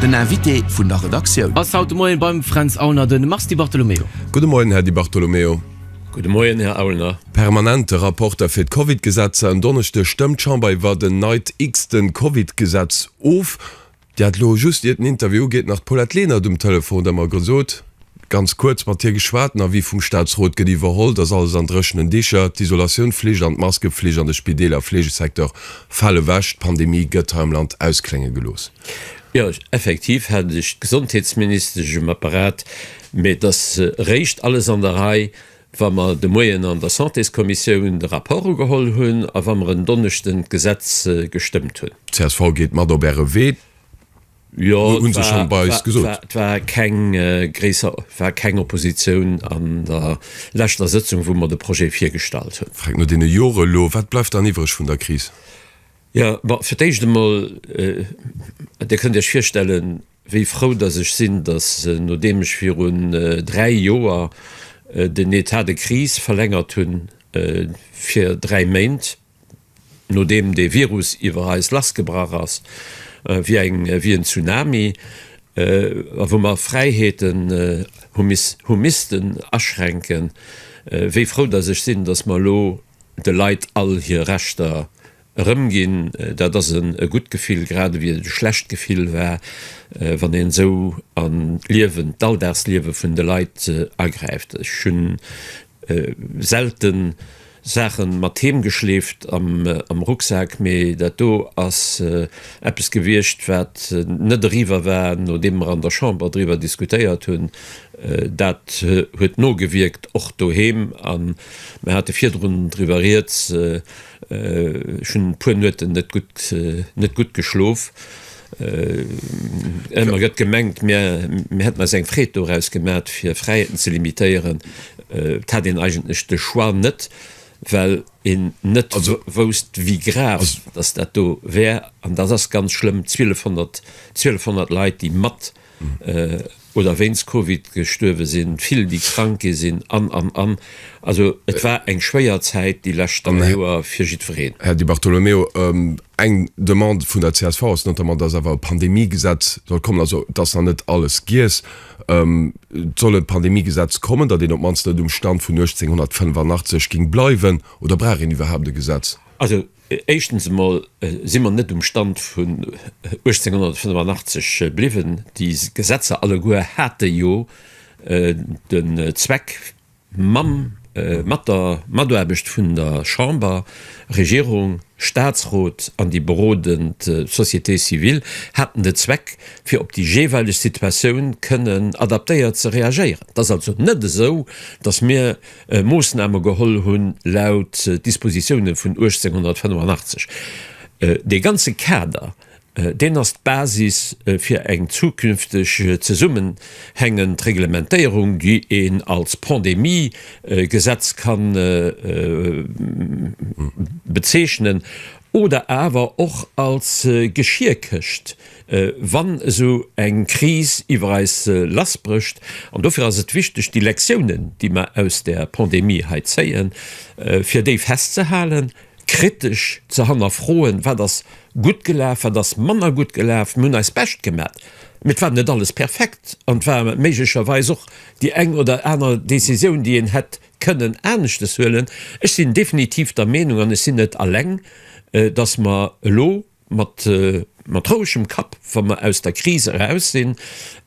Den Invité vun der Redaktioun. Ass haut de Moien beim Fränz Aulner de Mars Di Bartolomeo. Gudde Moien, Här Di Bartolomeo. Gudde Moien, Här Aulner. Permanente Rapporter fir d'Covid-Gesetzer. En Donneschde stëmmt d'Chamber iwwert en neit, x-ten Covid-Gesetz of. Dir hat elo just, iert den Interview ugeet, nach d'Paulette Lenert um Telefon, där mer gesot, Ganz kuerz mat hir geschwat. Den Avis vum Staatsrot gëtt iwwerholl. Et ass alles an dréchenen Dicher. D'Isolatiounflicht an d'Maskeflicht an de Spideeler a Fleegesecteur fale wech. D'Pandemie gëtt hei am Land ausklénge gelooss. Jo, effektiv hate sech d'Gesondheetsministesch um Apparat, mee et ass eréischt alles an der Rei, wa mer de Moien an der Santéskommissioun de Rapport ugeholl hunn a wa mer en Donneschden d'Gesetz gestëmmt hunn. Csv geet mat op Äre Wee. Jo, et war, war, war keng äh, gréisser war keng Oppositioun an der leschter Sëtzung, wou mer de Projet virgestallt hunn. Fränk, no deene Jore elo, wat bleift dann iwwereg vun der Kris? Ja, bon, fir d'éischt emol, äh, Dir kënnt Iech virstellen, wéi frou datt ech sinn, datt äh, nodeem ech virun äh, dräi Joer äh, den État de crise verlängert hunn äh, fir dräi Méint, Nodeem dee Virus iwwer eis lassgebrach ass wéi eng wéi en Tsunami a wou mer Fräiheeten hu miss hu missten aschränken, wéi frou datt ech sinn, datt mer elo de Leit all hir Rechter erëmginn. Dat ass en e gutt Gefill, grad ewéi et e schlecht Gefill war, wann een esou an d'Liewen, d'Alldagsliewe vun de Leit agräift. Ech hunn. Selten Saachen mat heem geschleeft am Rucksak, mee dat do ass eppes gewiescht wat net eriwwer war nodeem mer an der Chamber driwwer diskutéiert hunn. Dat huet nogewierkt och doheem an mer hate virdrun driwwer rieds. Ech hunn e puer Nueten net gutt, net gutt geschlof. Ëmmer gëtt gemengt, mir, mir hätten eis eng Freed doraus gemat, fir Fräiheeten ze limitéieren. Et hat een eigentlech de Choix net, well een net wousst, wéi grav dass dat do wär. An dat ass ganz schlëmm, 1.200, 1.200 Leit, déi mat. oder wéinst Covid gestuerwe sinn, vill déi krank gi sinn an, an, an. Also et war eng schwéier Zäit déi lescht dräi Joer fir jiddwereen. Här Di Bartolomeo, eng Demande vun der csv ass notamment, dass awer e Pandemiegesetz soll kommen, also et ass nach net alles giess. Et soll e Pandemiegesetz kommen, datt een op d'mannst net um Stand vun 1885 géing bleiwen. Oder brauch een iwwerhaapt e Gesetz? Also Éischtens emol si mer net um Stand vun 1885 bliwwen. Déi Gesetzer alleguer hate jo den Zweck, mam, mat der Mataarbecht vun der Chamber, Regierung, Statsrot an déi berodend Société civile, haten de Zweck, fir op déi jeeweileg Situatioun kënnen adaptéiert ze reagéieren. Et ass also net esou, dass mir, Moossname geholl hunn, laut Dispositioune vun 1885. Dee ganze Kader, deen ass d'Basis fir eng zukünfteg zesummenhängend Reglementéierung, déi een als Pandemie-Gesetz ka bezeechnen oder awer och als Geschierkëscht. wann esou eng Kris iwwer eis lassbrécht. An dofir ass et wichteg, déi Lektiounen, déi mer aus der Pandemie hei zéien, fir déi festzehalen, kritesch ze hannerfroen, Wat ass gutt gelaf? Wat ass manner gutt gelaf? Mir hunn eist Bescht gemat, mee et war net alles perfekt an et war méiglecherweis och déi eng oder aner Décisioun, déi een hätt kënnen aneschtes huelen. Ech sinn definitiv der Meenung, an ech sinn net alleng, dass mer elo, mat mat rouegem Kapp, wa mer aus der Kris eraus sinn,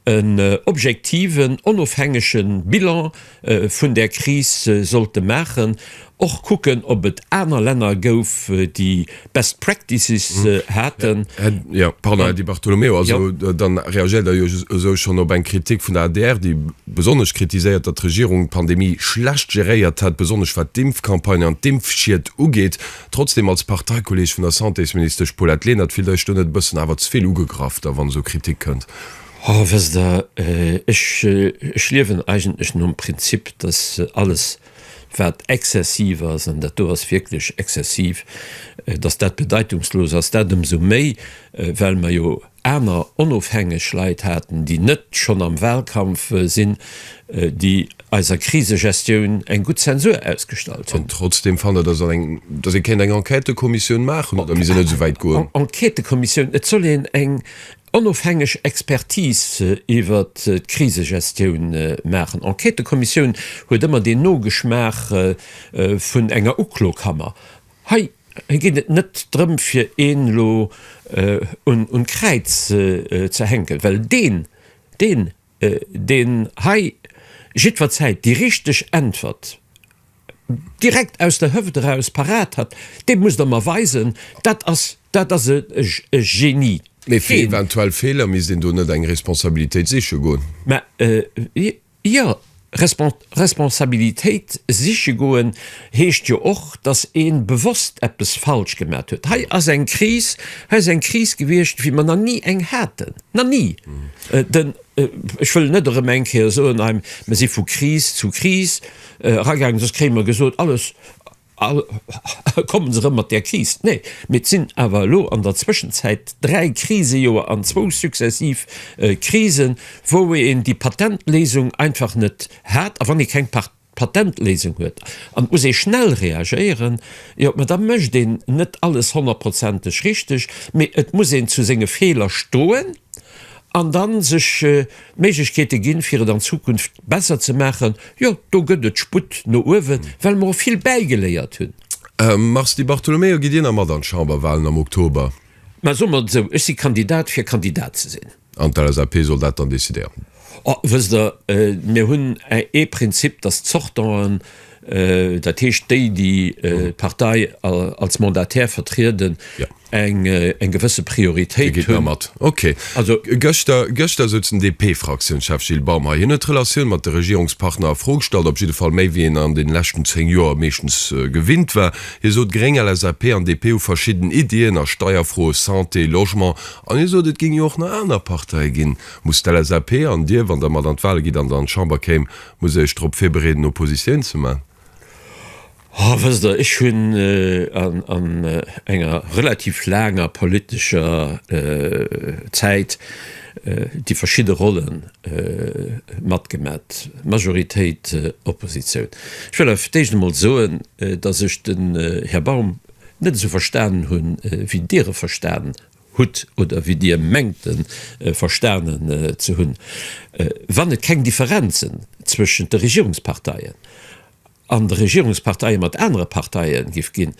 en objektiven, onofhängege Bilan vun där Kris sollte maachen, och kucken, ob et aner Länner gouf, déi best practices haten. Jo, pardon, Här Di Bartolomeo, also dann reagiert Der jo esou schonn op eng Kritik vun der adr, déi besonnesch kritiséiert, datt d'Regierung d'Pandemie schlecht geréiert hätt, besonnesch wat d'Impfcampagne an d'Impfschied ugeet. Trotzdem, als Parteikolleg vun der Santésministesch Paulette Lenert, fillt Eech do net e bëssen awer ze vill ugegraff da wann esou Kritik kënnt? Ho, wësst Der, ech, ech liewen eigentlech nom Prinzip, dass alles wat exzessiv ass, an dat do ass wierklech exzessiv, dass dat bedeitungslos ass. Dat ëmsou méi, well mer jo Aner onofhängeg Leit haten, déi net schonn am Wahlkampf sinn, déi eiser Krisegestioun eng gutt Zensur ausgestallt hunn. An trotzdem fannen, dass ee kéint eng Enquêtëkommissioun maachen, oder misst een net esou wäit goen? Enquêtëkommissioun, et soll een eng onofhängeg Expertise iwwer d'Krisegestioun maachen. Enquêtëkommissioun huet ëmmer deen Nogeschmaach vun enger Uklokammer. Hei geet et net drëm fir een elo un d'Kräiz ze hänken, well deen deen deen hei jiddwer Zäit déi richteg Äntwert direkt aus der Hëft eraus parat hat, dee muss der mer weisen, dat ass dat ass e Genie. Mee fir eventuell Feeler misst een do net eng Responsabilitéit siche goen? Mä. Jo, Responsabilitéit siche goen heescht jo och, datt ee bewosst eppes falsch gemat huet. Hei ass eng Kris, hei ass eng Kris gewiescht, wéi mer nach ni eng haten, nach ni! Den, ech wëll net erëm eng Kéier soen, Eim, mer si vu Kris zu Kris eragaangen, soss kréie mer gesot, alles, A kommen se erëm mat där Kris? Nee, mee et sinn awer elo an der Zwëschenzäit dräi Krisejoer an zwou successiv Krisen, wou een déi Patentléisung einfach net hat. A wann ee keng Patentléisung huet an et muss ee schnell reagéieren, jo, ma da mécht een net alles honnertprozenteg richteg, mee et muss een zu senge Feeler stoen an dann sech d'Méiglechkeete ginn, fir et an Zukunft besser ze maachen, jo, do gëtt et Sputt no uewen, well mer och vill bäigeléiert hunn. Mars Di Bartolomeo, Gitt Dir nach mat an d'Chamberwahlen am Oktober? Ma soe mer et esou, ech si Kandidat, fir Kandidat ze sinn. An d'LSAP soll dat dann decidéieren? Oh, wësst Der, mir hunn ee Prinzip, dass d'Sortanten, Dat heescht, déi, déi d'Partei als Mandataire vertrieden, eng gewësse Prioritéit hunn. Okay. Gëschter, gëschter sot den DP-Fraktiounschef Gilles Baum hei, hien huet d'Relatioun mat de Regierungspartner a Fro gestallt, op jidde Fall méi, wéi een an deene leschten zéng Joer meeschtens gewinnt war. Hie sot, Gréng, LSAP an DP hu verschidden Iddien a Steierfro, Santé, Logement. An hie sot, et géing jo och nach aner Parteie ginn. Muss d'LSAP an Dir, wann Der mat an d'Wale gitt an der an d'Chamber kéim, Muss iech drop virbereeden Oppositioun ze man? Oh wësst der, ech hunn an enger relativ laanger politescher Zäit déi verschidde Rollen matgemat, Majoritéit, Oppositioun. Ech wëll awer fir d'éischt emol soen, datt ech den Här Baum net esou verstanen hunn, wéi Dir e verstanen hutt oder wéi Dir mengt e verstanen ze hunn, wann et keng Differenzen zwëschent de Regierungsparteien an de Regierungsparteie mat anere Parteie géif ginn,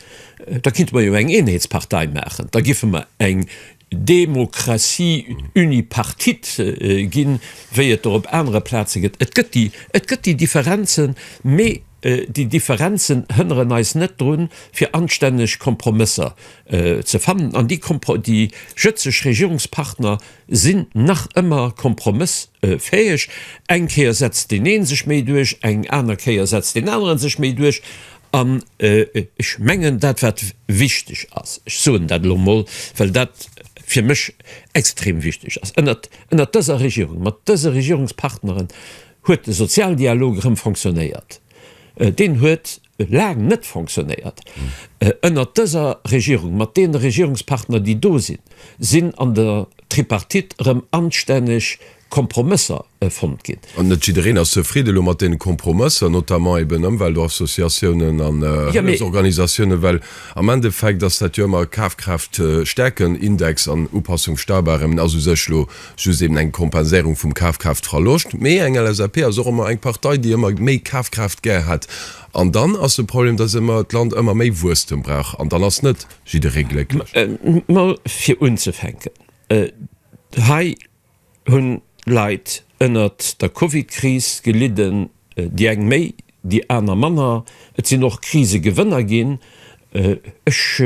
da kinnte mer jo eng Eenheetspartei maachen, da géife mer eng Démocratie unipartite ginn, wéi et der op anere Plaze gëtt. Et gëtt déi Differenzen, mee. Déi Differenzen hënneren eis net drun, fir anstänneg Kompromësser ze fannen. An déi jëtzeg Regierungspartner sinn nach ëmmer kompromëssfäeg. Eng Kéier setzt deen ee sech méi duerch, eng aner Kéier setzt deen aneren sech méi duerch. An ech mengen, dat wat wichteg ass, ech soen dat elo emol, well dat fir mech extrem wichteg ass, ënnert dëser Regierung, mat dëse Regierungspartnere Huet de Sozialdialog erëm fonctionnéiert? Deen huet laang net fonctionnéiert. Ënnert dëser Regierung, mat deene Regierungspartner, déi do sinn, sinn an der Tripartite erëm anstänneg Kompromësser fonnt ginn. An net jiddereen ass zefridde elo mat deene Kompromësser, notamment eben Ëmweltassociatiounen an Hëllefsorganisatiounen, well am Endeffekt ass dat jo ëmmer Kafkraaftstäerken-Index an Upassung-Steibarem ass u sech elo just eben eng Kompenséierung vum Kafkraaftverloscht, mee eng LSAP ass och ëmmer eng Partei, déi ëmmer méi Kafkraaft gär hätt. An dann ass de Problem, dass ëmmer d'Land ëmmer méi Wuesstem brauch, an dann ass net jidderee glécklech. Mä fir unzefänken, hei hunn Leit ënnert der Covidkris gelidden. Déi eng méi, déi aner manner. Et sinn och Krisegewënner ginn. Ech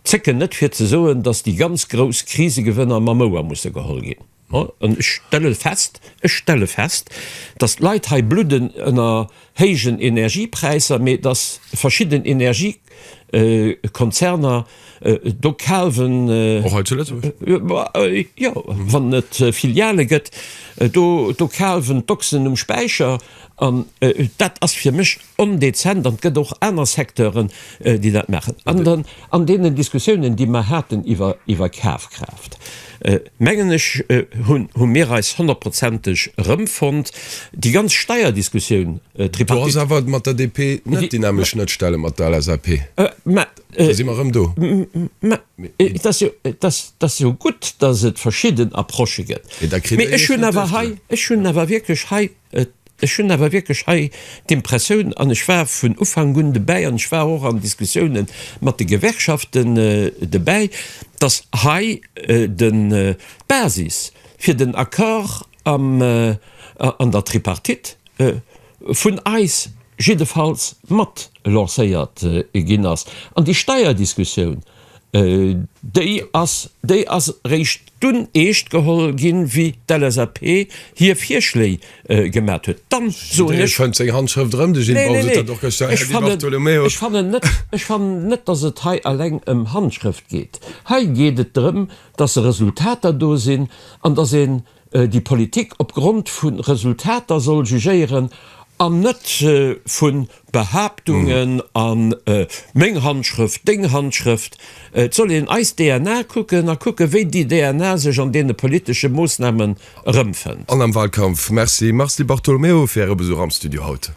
zécken net fir ze soen, datt déi ganz grouss Krisegewënner mam Ouer musse geholl ginn. An ech stelle fest, ech stelle fest, datt d'Leit hei bludden ënner héijen Energiepräisser, mee datt verschidden Energiekonzerner Do kafen och hei zu Lëtzebuerg jo wann et Filiale gëtt do do kafen d'Boxen um Späicher an dat ass fir mech ondezent an et gëtt och aner Secteuren déi dat maachen an dann an deenen Diskussiounen déi mer haten iwwer iwwer Kafkraaft mengen ech hunn hu mir eis honnertprozenteg erëmfonnt. Déi ganz Steierdiskussioun, d'Tripartite. Do ass awer mat der DP net déi nämlech Schnëttstelle mat der LSAP. Äh, si mer rëm do. Dat jo gutt, datt et verschidden Approche gëtt. Ech hunn awer hei, ech hunn awer wierklech hei, ech hunn awer wierklech hei d'Impressioun, an ech war vun Ufank un dobäi an ech war och an Diskussioune mat de Gewerkschaften dobäi, datt hei den, d'Basis fir den Accord am, an der Tripartite, vun eis jiddefalls mat lancéiert ginn ass. An déi Steierdiskussioun, déi ass, déi ass eréischt dunn eescht geholl ginn, wéi d'LSAP hir Virschléi gemat huet. Dann soen ech, Neen, neen, neen, ech fannen net, ech fannen net, dass et hei eleng ëm Handschrëft geet. Hei geet et drëm, dass Resultater do sinn an dass ee déi Politik op Grond vu Resultater soll jugéieren an net vu Behaaptungen a meng Handschrëft, deng Handschrëft. Et soll een eis DNA kucken a kucke wéi déi DNA sech an deene politesche Moossnamen erëmfënnt. An am Walkampf. Merci Mars Di Bartolomeo fir Äre Besuch am Studio haut.